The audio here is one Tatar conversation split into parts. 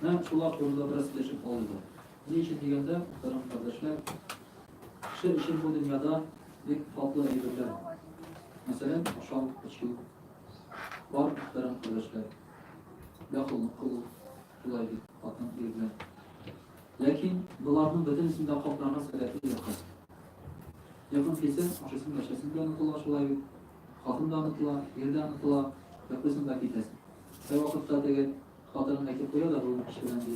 Менә шул турында бераз сөйләшеп алыйк. Ни өчен дигәндә, мөхтәрәм кардәшләр, кеше өчен бу дөньяда бик татлы әйберләр. Мәсәлән, ашау, эчү. Бар, мөхтәрәм кардәшләр. Яхшылык кылу, шулай бит, хатын ир белән. Ләкин боларның бөтенесен дә капларга сәләтле якын. Якын килсә, ашысын да эчәсен дә онытыла шулай бит. Хатын да онытыла, ир дә онытыла, йоклыйсың да китәсең. Һәрвакытта теге Хатыным әйтеп куя да бүген кич белән, ди.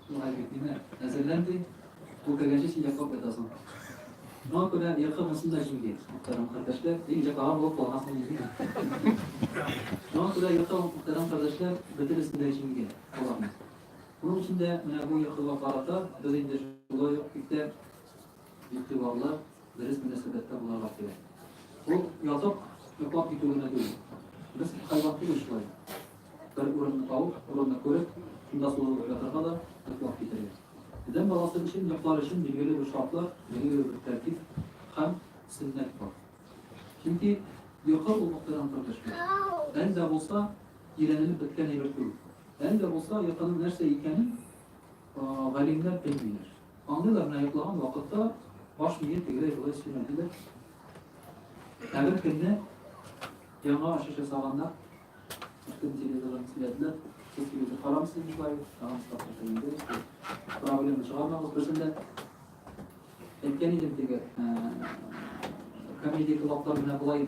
Шулай бит, димә, әзерлән, ди. Ул кергәнче син йоклап ятасың. Шуңа күрә йокы монысын да җиңде, мөхтәрәм кардәшләр. Ди, өйдә калган булып калгансың инде, ди. Шуңа күрә йокы, мөхтәрәм кардәшләр, бөтенесен дә җиңде аларның. Шуның өчен дә менә бу йокыга карата без инде шулай ук иртә игътибарлы, дөрес мөнәсәбәттә булырга кирәк. Ул ятып, йоклап китү генә түгел. Без кайвакыт түгел шулай. Бер урынны табып, урынны күреп, шунда сузылып ятырга да йоклап китәргә. Адәм баласы өчен йоклар өчен билгеле бер шартлар, билгеле бер тәртип һәм сөннәт бар. Чөнки йокы ул мөхтәрәм кардәшләр. Әле дә булса, өйрәнелеп беткән әйбер түгел. Әле дә булса, йокының нәрсә икәнен галимнәр белмиләр. Аңлыйлар менә йоклаган вакытта баш мие тегеләй болай эшләмәде дә. Ә бер көнне яңа ачыш ясаганнар. Бөтен телевизордан сөйләделәр. Сез телевизор карамыйсыз бушлай, тагын штатка килгәндә. Проблема чыгармагыз берсендә. Әйткән идем теге комедия клаблар менә болай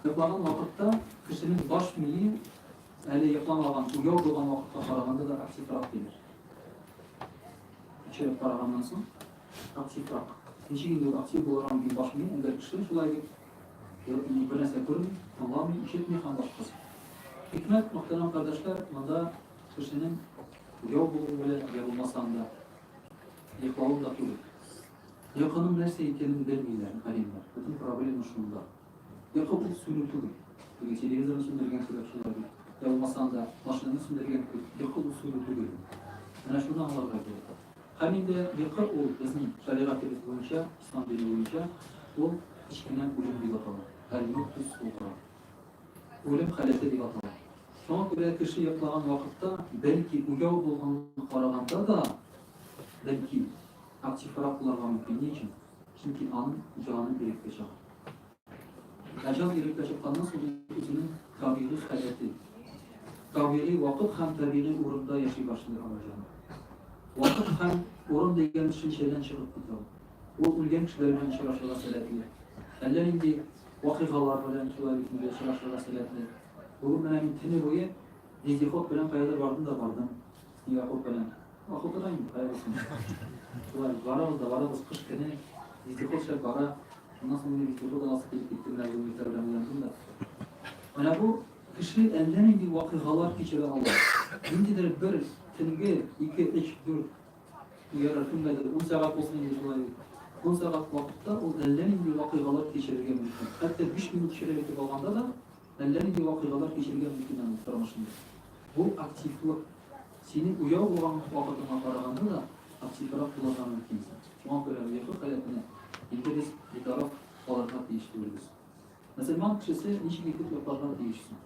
Йоклаган вакытта кешенең баш мие әле йокламаган, уяу булган вакытка караганда да активрак диләр. Кичереп караганнан соң активрак. Ничек инде актив булырга мөмкин баш мие, әгәр кеше шулай дип бер нәрсә күрми, аңламый, ишетми һәм башкасы. Хикмәт, мөхтәрәм кардәшләр, монда кешенең яу булуы белән, я булмаса анда йоклавы да түгел. Йокының нәрсә икәнен белмиләр галимнәр. Бөтен проблема шунда. Йокы ул сүнү түгел. Теге телевизорны сүндергән кебек шулай бит. Йә булмаса анда машинаны сүндергән кебек, йокы ул сүнү түгел ул. Менә шуны аңларга кирәк. Һәм инде йокы ул безнең шәригатебез буенча, ислам дине буенча, ул кечкенә үлем дип атала. Әл-муттус сугра. Үлем халәте дип атала. Шуңа күрә кеше йоклаган вакытта, бәлки уяу булганга караганда да, бәлки, Активрак булырга мөмкин. Ни өчен? Чөнки аның җаны иреккә чыга. Ә җан иреккә чыкканнан соң ул үзенең табигый халәте, табигый вакыт һәм табигый урында яши башлый ала җан. Вакыт һәм урын дигән төшенчәдән чыгып китә ул. Ул үлгән кешеләр белән очрашырга сәләтле. Әллә нинди вакыйгалар белән шулай бит инде очрашырга сәләтле. Бүген менә мин көне буе вездеход белән каядыр бардым да бардым. Якуп белән. Ах, утыра инде, кайгырсын. Шулай барабыз да барабыз, кыш көне, вездеход шәп бара. Моннан соң мине вездеход аласы килеп китте, менә бу милтәр белән уйландым да. Менә бу кеше әллә нинди вакыйгалар кичерә ала. Ниндидер бер төнге ике, өч, дүрт ярар кемгәдер ун сәгать булсын инде шулай ун сәгать вакытта ул әллә нинди вакыйгалар кичерергә мөмкин. Хәтта биш минут шәп итеп алганда да Әллә нинди вакыйгалар кичергән микин аның тормышында? Бу активлык. Синең уяу булган вакытыңа караганда да активрак булырга мөмкинсең. Шуңа күрә йокы халәтенә инде без битараф калырга тиеш түгелбез. Мөселман кешесе ничек итеп йокларга тиеш соң?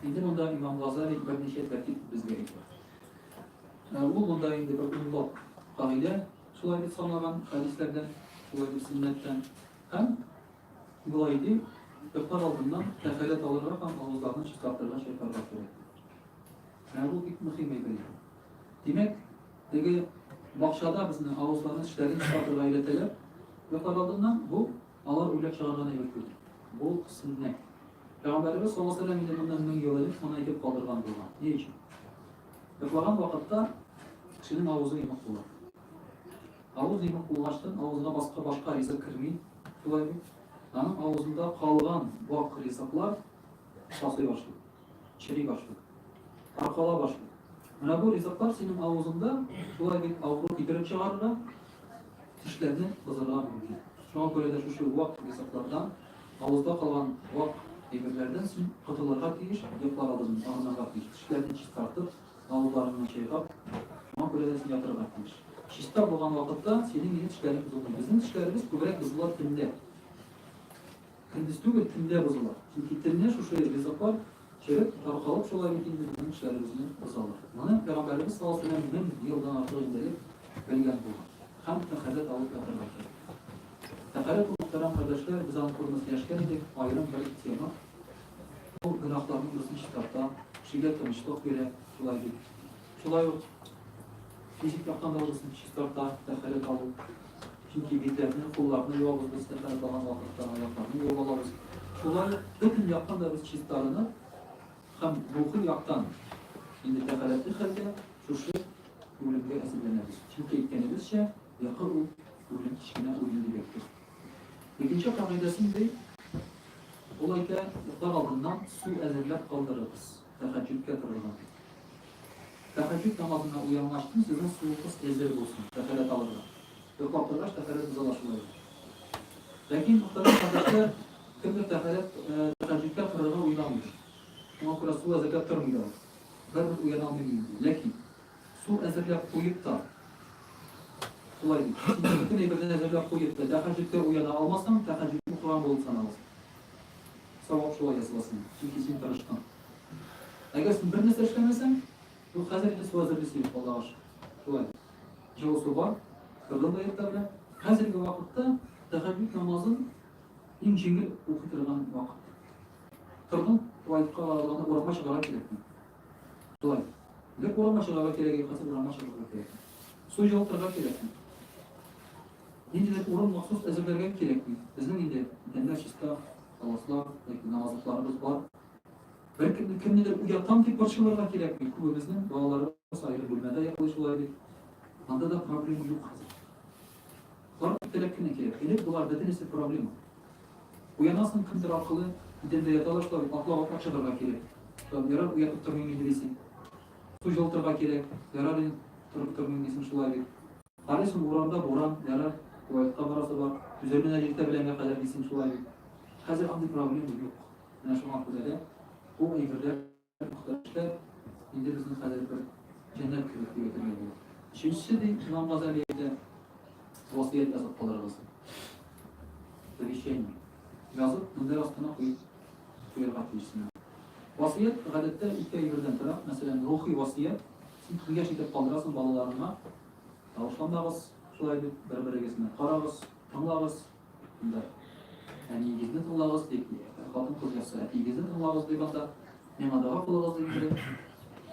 Инде монда имам Газали берничә тәртип безгә әйтә. Ул монда инде бер унлап кагыйдә шулай дип санаган хәдисләрдән, шулай дип сөннәттән һәм Болай итим, йоклар алдыннан кәфаләт алырга һәм авызларны чистартырга чайкарга кирәк. Менә бу бик мөһим әйбер. Димәк, теге бакчада безне авызларны тешләрен чистартырга өйрәтәләр. Йоклар алдыннан бу алар уйлап чыгарган әйбер түгел. Бу сөннәт. Пәйгамбәребез саллаллаһу алейһи ва сәлләм моннан мең ел элек моны әйтеп калдырган булган. Ни өчен? Йоклаган вакытта кешенең авызы йомык була. Авыз имәк булгачтын авызга баска башка ризык керми, шулай бит? Аның авызында калган вак ризыклар сасый башлый, чери башлый, таркала башлый. Менә бу ризыклар синең авызыңда шулай бит авыру китереп чыгарырга, тешләрне бозарга мөмкин. Шуңа күрә дә шушы вак ризыклардан, авызда калган вак әйберләрдән син котылырга тиеш, йоклар алдыннан арынырга тиеш, тешләрне чистартып, Тавыкларыңны чайкап, шуңа күрә дә син ятарга тиеш. Чиста булган вакытта синең минем тешләрең бозылмый. Безнең тешләребез күбрәк бозыла төндә. Көндез түгел, төндә бозыла. Чөнки телне шушы ризыклар череп, таркалып шулай бит инде безнең тешләребезне бозалар. Моны Пәйгамбәребез саллаллаһу галәйһи ва сәлләм мең елдан артык инде элек белгән булган. Һәм тәхәррәт алып ятарга кирәк. Тәхәррәт мөхтәрәм кардәшләр, без аны күрмәсләшкән идек, аерым бер тема. Бу гөнаһларның берсен чистарта, кешегә тынычлык бирә, шулай бит. Шулай ук физик яктан да үзен чистарта, тәхәрәт алу. Чөнки битләрне, кулларны юабыз без тәхәрәт алган вакытта, аякларны юып алабыз. Шулай ук бөтен яктан да без чистарынып һәм рухи яктан инде тәхәрәтле хәлдә шушы үлемгә әзерләнәбез. Чөнки әйткәнебезчә, якы ул үлем кечкенә үлем дип әйттек. Икенче кагыйдәсе ни ди? Ул әйтә, йоклар алдыннан су әзерләп калдырыгыз, тәһәҗҗүдкә торырга. Тәһәҗҗүд намазына уянгач тын сезнең суыгыз әзер булсын, тәһарәт алырга. Йоклап торгач тәһарәт боза да шулай ул. Ләкин мөхтәрәм хәзрәтләр, кемдер тәһарәт, тәһәҗҗүдкә торырга уйламыйдыр. Шуңа күрә су әзерләп тормый да ул. Барыбер уяна алмыйм мин, ди. Ләкин. Су әзерләп куеп та, шулай ди. Сез бөтен әйберне әзерләп куеп та, тәһәҗҗүдкә уяна алмасаң, тәһәҗҗүд укыган булып саналасың. Савап шулай языласың, чөнки син тырыштың. Әгәр син бер нәрсә эшләмәсәң, юк, хәзер инде су әзерли син, алдагыш. Шулай ди. Җылы су бар, кыргыз гаетләр белән. Хәзерге вакытта тәһәҗҗүд намазын иң җиңел укый торган вакыт. Тордың, туалетка, ваннага, урамга чыгарга кирәкми. Тон. Бер кулыңа чыгарга кирәк, юкасы урамга чыгарга кирәк. Су җылытырга кирәкме? Ниндидер урын махсус әзерләргә кирәкми. Безнең инде идәннәр чиста, халаслар, яки намазлыкларыбыз бар. Бер кемне кемнедер уятам дип борчылырга кирәкми. Күбебезнең балаларыбыз аерым бүлмәдә йоклый шулай бит. Анда да проблема юк хәзер. Карт теләп кенә килә. Элек болар бөтенесе проблема. Уянасың кемдер аркылы, идәндә яталар шулай, атлап атлап чыгарга кирәк. Там ярар уятып тормыйм инде дисең. Су җылытырга кирәк, ярар инде торып тормыйм дисең шулай бит. Карыйсың урамда буран, ярар, туалетка барасы бар, түзермен әле иртә беләнгә кадәр дисең шулай бит. Хәзер андый проблема юк. Менә шуңа күрә дә бу әйберләр. Макташта инде безнең хәзер бер җәннәт кебек дип әйтергә була. Өченчесе ди, Имам Газали әйтә, васыять язып калырыгыз. Завещание. Язып, мендәр астына куеп куярга тиешсең. Васыять гадәттә ике әйбердән тора. Мәсәлән, рухи васыять. Син киңәш итеп калдырасың балаларыңа. Тавышланмагыз, шулай дип, бер-берегезне карагыз, тыңлагыз, Анда әниегезне тыңлагыз дип, хатын-кыз нәрсә, әтиегезне тыңлагыз дип анда, миңа дога кылыгыз дип инде.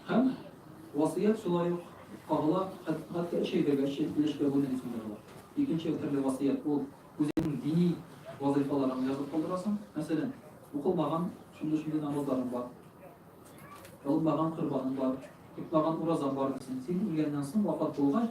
Һәм васыят шулай ук кагыла, хәтта өч әйбергәчә өлешкә бүлү дисен дә була. Икенче төрле васыят ул үзеңнең дини вазыйфаларыңны язып калдырасың. Мәсәлән, укылмаган шундый-шундый намазларың бар, алынмаган корбаның бар, тотмаган уразаң бар дисең. Син үлгәннән соң, вафат булгач,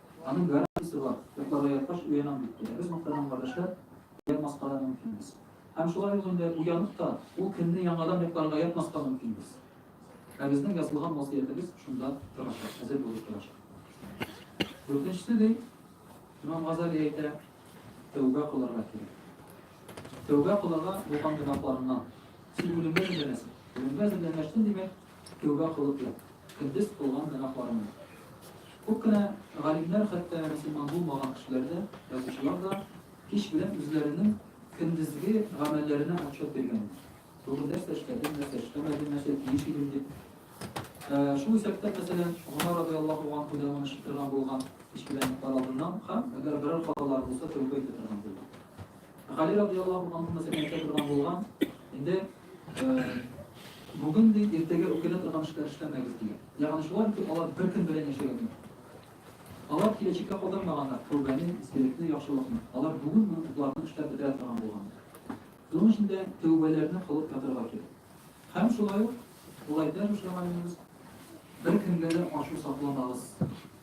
Аның гарантиясе бар, йокларга яткач уянам дип килә. Без мактанам, кардәшләр, ятмаска да мөмкинбез. Һәм шулай ук инде уянып та, ул көнне яңадан йокларга ятмаска мөмкинбез. Ә безнең язылган васыятебез шунда торачак, хәзер булып торачак. Дүртенчесе ди, Имам Газали әйтә, тәүбә кылырга кирәк. Тәүбә кылырга булган гөнаһларыннан. Син үлемгә әзерләнәсең. Үлемгә әзерләнгәчтен, димәк, Кияүгә кылып ят. Көндез кылган гөнаһларыңны. Күп кенә галимнәр, хәтта мөселман булмаган кешеләр дә, язучылар да кич белән үзләренең көндезге гамәлләренә отчет биргәннәр. Бүген нәрсә эшләдем, нәрсә эшләмәдем, нәрсә тиеш идем дип. Шул исәптә, мәсәлән, Гомәр радыяллаһу анһудан моны чытырган булган, кич белән йоклар алдыннан һәм әгәр берәр хаталары булса, тәүбә итә торган булган. Гали радиаллаһу анһу мәсәлән әйтә торган булган, инде бүген ди иртәгә үкенә торган эшләр эшләмәгез дигән. Ягъни шулай итеп алар бер көн белән яшәгәннәр. Алар киләчәккә калдырмаганнар тәүбәне, истәлекне, яхшылыкны. Алар бүген генә утларны эшләп бетерә торган булганнар. Шуның өчен дә тәүбәләрне кылып ятарга кирәк. Һәм шулай ук, болай дә шушы гамәлебез бер кемгә дә ачу сакламагыз.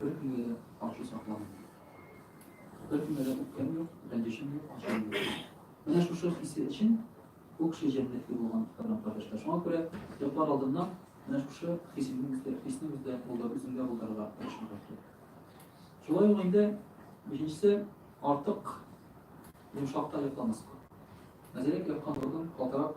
Бер көнгә дә ачу сакламый. Бер көнгә дә үпкәм юк, рәнҗешем юк, ачуым юк. Менә шушы хисе өчен күк ши җәннәтле булган кырым кардәшләр. Шуңа күрә йоклар алдыннан менә шушы хисне үздә, хисне үздә булдыр, үзеңдә булдырырга тырышырга кирәк. Шулай ук инде бишенчесе артык йомшакта йокламаска. Мәзәләк яткан урын калтырак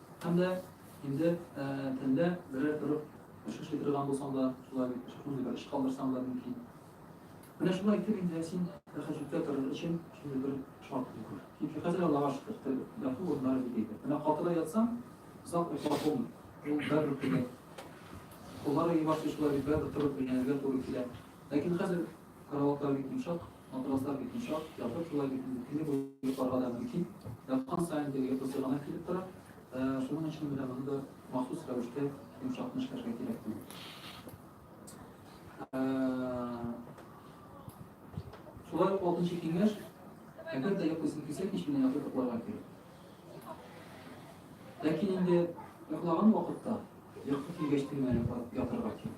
Һәм дә инде тәндә берәр төрек эш эшли торган булсаң да, шулай шундый бер эш калдырсаң да мөмкин. Менә шулай итеп инде син рәхәтлектә торыр өчен шундый бер шарт куй. Чөнки хәзер, Аллага шөкер, тел, яту урыннары бик әйбәт. Менә катыда ятсаң, озак йоклап булмый. Ул бәрбер тибә. Куллар ие башлый шулай бит, бәрбер торып эшләргә туры килә. Ләкин хәзер Караватлар бик йомшак, матраслар бик йомшак, ятып шулай бит инде көне буе йокларга да мөмкин. Яткан саен теге йокы сыгана килеп тора. Шуның өчен менә моны да махсус рәвештә йомшак кына эшләргә кирәк була. Шулай ук алтынчы киңәш, әгәр дә йоклыйсың килсә, кич белән ятып йокларга кирәк. Ләкин инде йоклаган вакытта йокы килгәч тегенә ятарга кирәк.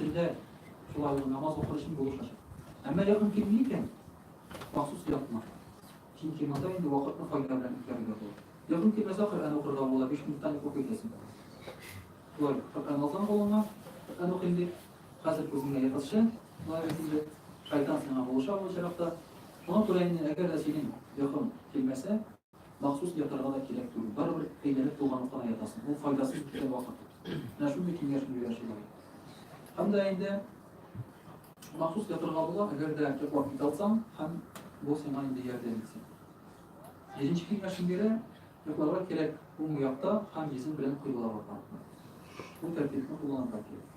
Төндә шулай ул намаз укыр өчен булышачак. Әмма якын килми икән, махсус ятма. Чөнки монда инде вакытны файда белән үткәрергә була. Якын килмәсә, Коръән укырга була, биш минуттан уку итәсең. Шулай, Коръән алсаң кулыңа, Коръән укыйм дип, хәзер күзеңә ятасы, шулай инде шайтан сиңа булыша бу очракта. Моңа күрә инде, әгәр дә синең якын килмәсә, Махсус ятарга да кирәк түгел. Барыбер әйләнеп туган утына ятасың. Ул файдасыз үткән вакыт. Менә шундый киңәш бирә шулай. Һәм дә инде махсус ятарга була, әгәр дә йоклап китә алсаң, һәм бу сиңа инде ярдәм итсен. Беренче киңәшем бирә, йокларга кирәк уң якта һәм йөзең белән кыйблага карап. Бу тәртипне кулланырга кирәк.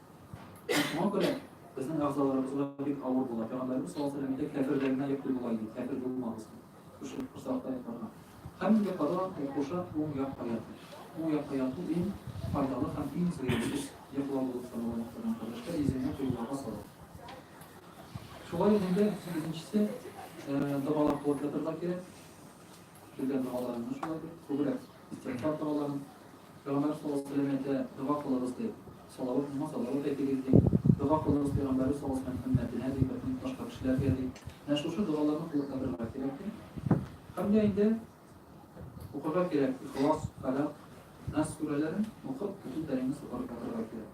Шуңа күрә безнең әгъзаларыбызга бик авыр була. Пәйгамбәребез саллаллаһу алейһи ва сәлләм әйтә, Кяферләргә йоклый була иде, кяфер булмагыз. Шушы курсакта йокларга. Һәм инде кара курсак уң як аяты. Уң як аяты иң файдалы һәм иң зыянсыз йоклау булып саналган. Кардәшләр, йөзеңне кыйблага салып. Шулай ук инде сигезенчесе догалар кылып ятарга кирәк. Килгән догаларны шулай күбрәк. Истигъфар коралларын, Пәйгамбәр саллаллаһу галәйһи ва сәлләм әйтә, Дога кылыгыз, ди. Салават булмас, салават әйтегез, ди. Дога кылыгыз, Пәйгамбәребез саллаллаһу галәйһи ва сәлләм хөрмәтенә, ди, бөтен башка кешеләргә, ди. Менә шушы догаларны кылып ятарга кирәк, ди. Һәм дә инде укырга кирәк, Ихлас, Фәләкъ, Нас сүрәләрен укып, бөтен тәнеңне сукырып ятарга кирәк.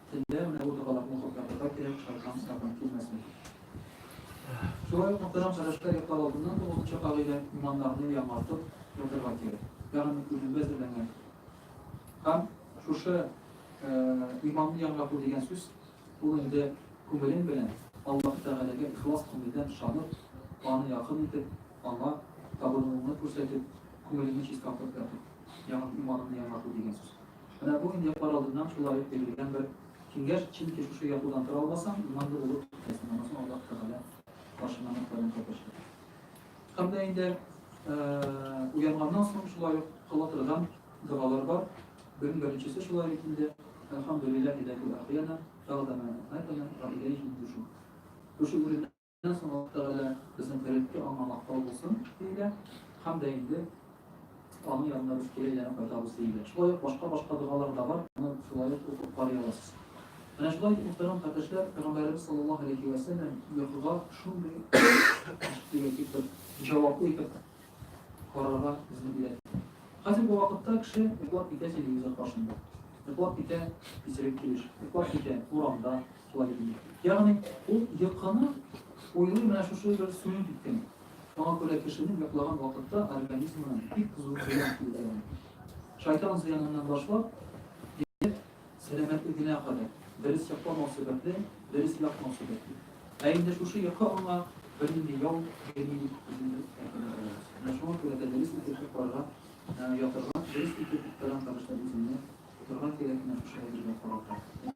Төнлә менә бу токалакны каплатырга кирәк, шайтан сагын килмәсен. Шулай ук Мөхтәрәм Хәләшкә йоклар алдыннан тугызынчы кагыйдә иманнарны яңартып ятырга кирәк. Ягъни күземгә әзерләнгән. Һәм шушы иманны яңарту дигән сүз ул инде күңелең белән Аллаһ Тәгаләгә ихлас күңелдән ышанып, аны якын итеп, аңа табынуыңны күрсәтеп, күңелеңне чистартып яту. Ягъни иманны яңарту дигән сүз. Менә бу инде кар алдыннан шулай ук бирелгән бер киңәш, чөнки шушы ятудан тора алмасаң, иманлы булып китәсең, аннан соң Аллаһ Тәгалә каршына мәхкәмән кайтачак. Һәм дә инде уянганнан соң шулай ук кыла торган догалар бар. Бүген беренчесе шулай ук инде Әлхамдүлилләһи ләзил әхьяна бәгъдәмә әмәтәнә вә иләйһи нушур. Шушы урында Аннан соң Аллаһ Тәгалә безнең һәрекеткә аңа мактау булсын, диелә, һәм дә инде аның янына без кире әйләнеп кайтабыз, диелә. Шулай ук башка-башка догалар да бар, аны шулай ук укып карый аласыз. Менә шулай итеп, мөхтәрәм кардәшләр, Пәйгамбәребез саллаллаһу галәйһи вә сәлләм йокыга шундый дигән бер җаваплы итеп карарга безне өйрәтте. Хәзерге вакытта кеше йоклап китә телевизор каршында, йоклап китә исерек килеш, йоклап китә урамда, Ягъни, ул йокыны уйлый менә шушы бер сүнеп киткән. Шуңа күрә кешенең йоклаган вакытта организмына бик зур зыян килгән. Шайтан зыяныннан башлап, сәламәтлегенә кадәр, дөрес йокламау сәбәпле, дөрес ятмау сәбәпле. Ә инде шушы йокы аңа бернинди ял бирми дип үзебез әйтәбез. Менә шуңа күрә дә дөрес итеп йокларга, ятарга, дөрес итеп уктарга тырышып үзеңне тотарга кирәк, менә шушы әйбергә карата.